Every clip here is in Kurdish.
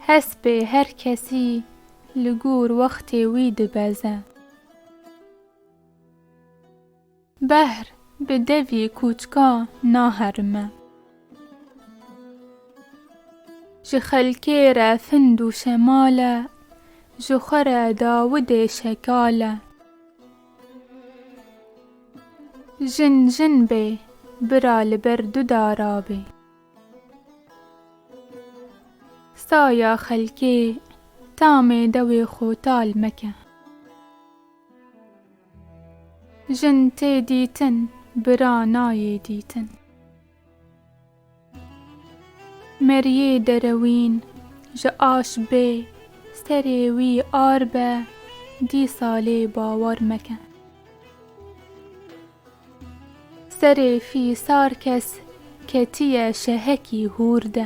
Hespê her kesî li gor wextê wî dibeze. Behr bi devî kûçka naherime. Ji xelkê re find û şemal e, ji xwe re dawidê şekal e. Jin jin bê, bira li ber du dara bê. Saya xelkê, tamê dewê xwe tal meke. Jin tê dîtin, bira nayê dîtin. Meriyê derewîn ji aş bê, serê wî ar be, dîsa lê bawer meke. Serê fî sar kes ketiye şehekî hûr de.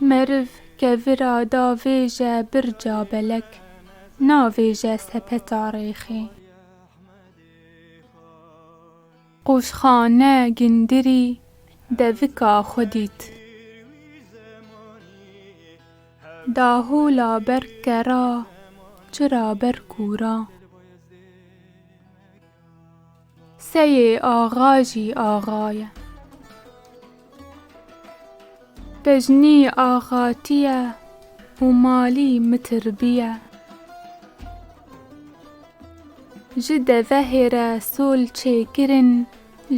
Meriv ke vira da vêje birca belek, navêje sepeta rêxê. Qoşxane gindirî devika xwe dît. Dahola berk ke ra, çira berk û ra. Seyê axa jî axa ye. Tejnî axatî ye û malî mitirbî ye. Ji devehê re sol çêkirin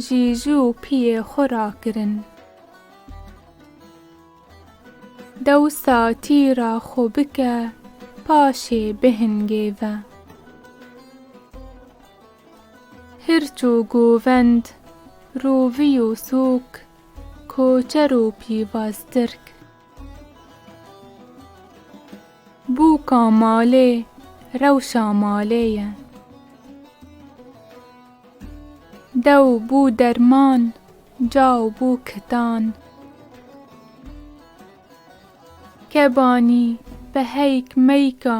jîjû pîyê xwe rakirin. Dewsa tîra xwe bike paşê bihingêve. Hirç û govend, rovî û sûk, koçer û pîvaztirk. Bûka malê, rewşa malê ye. Dew bû derman, caw bû kitan. Kebanî, beheyk, meyka,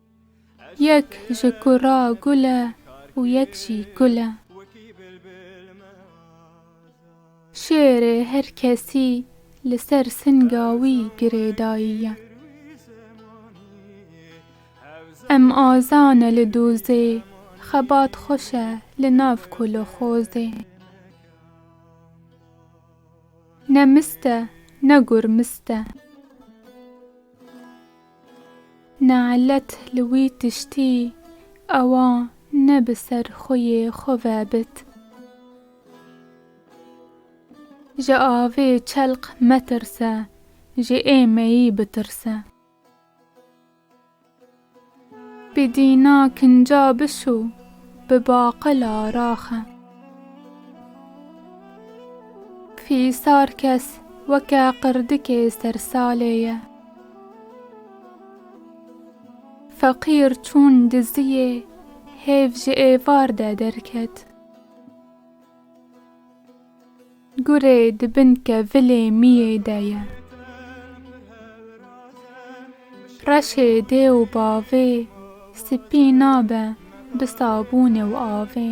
Yek ji ku ra gul e û yek jî kul e. Şêrê her kesî li ser singa wî girêdayî ye. Em aza ne li dozê, xebat xweş e li nav koloxozê. Ne mist e, ne gur mist e. Ne'let li wî tiştî ewa ne bi ser xweyê xwe ve bit. Ji avê çelq metirse, ji êmeyî bitirse. Bi dîna kinca bişo, bi baqila raxe. Fîsar kes weke qirdikê sersalê ye. Feqîr çûn diziyê hêv ji êvar de derket. Gurê di bin kevilê miyê de ye. Reşê dê û bavê sipî nabe bi sabûnê û avê.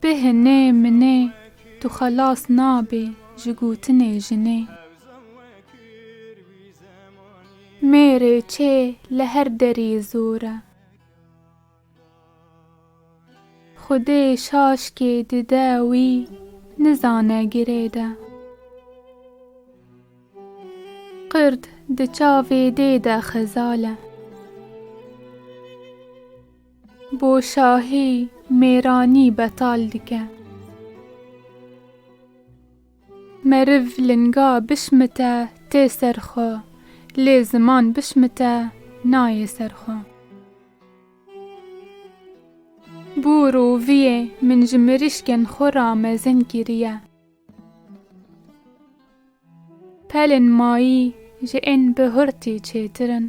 Bi hinê minê tu xelas nabî ji gotinê jinê. Mêrê çê li her derî zor e. Xwedê şaşkê dide wî nizane girê de. Qird di çavê dê de xezal e. Bo şahî mêranî betal dike. Meriv linga bişmite tê ser xwe, lê ziman bişmite nayê ser xwe. Bo roviyê min ji mirîşkên xwe ra mezin kiriye. Pelên mayî ji ên bi hurtî çêtir in.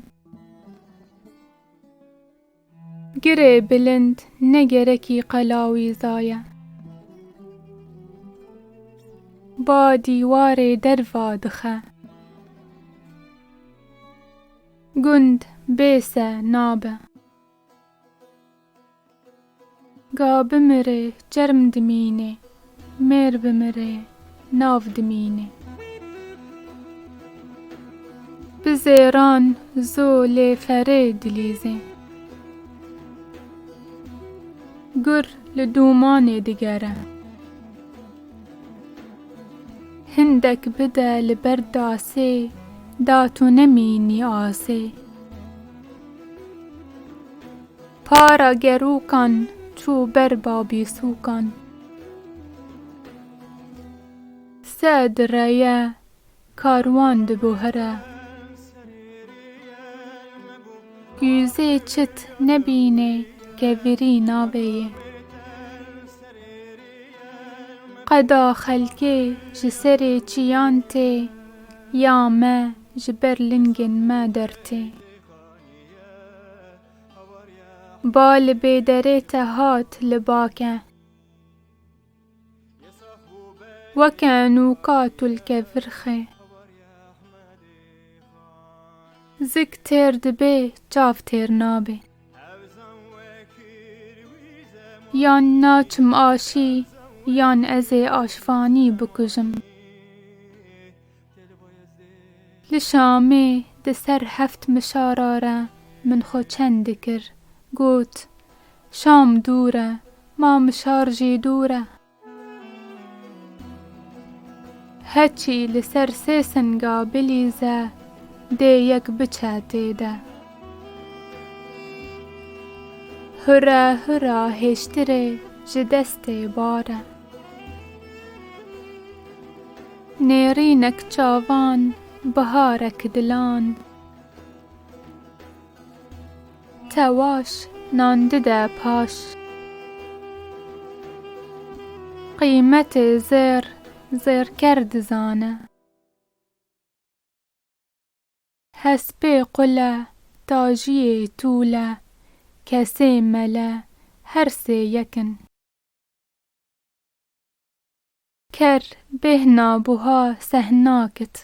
Girê bilind ne gerekî qela wî zaye. Ba dîwarê derva dixe. Gund bê se nabe. Ga bimire çerm dimîne. Mêr bimire nav dimîne. Bi zêran zo lê ferê dilîze. Gur li dûmanê digere. Hindek bide li ber dasê. Da tu nemînî asê. Para gerokan çû ber babîsûkan. Se di reye karwan dibo here. Gûzê çit nebînê ke virî naveyê. Qeda xelkê ji serê çiyan tê ya me ji ber lingên me dertê. Ba li bêderê te hat li bake. Weke nûka tulke virxê. Zik têr dibê çav têr nabê. Yan naçim aşî yan ezê aşvanî bikujim. Li Şamê di ser heft mişara re min xwe çend dikir. Got, Şam dûr e, ma mişar jî dûr e. Heçî li ser sê singa bilîze dê yek biçe tê de. Hura hura hêştirê ji destê bar e. Nêrînek çavan, biharek dilan. Tewaş nan dide paş. Qîmetê zêr, zêrker dizane. Hespê qule, tajiyê tûle. Kesê mele, her sê yek in. Ker, bêhna, buha, sehna, kit.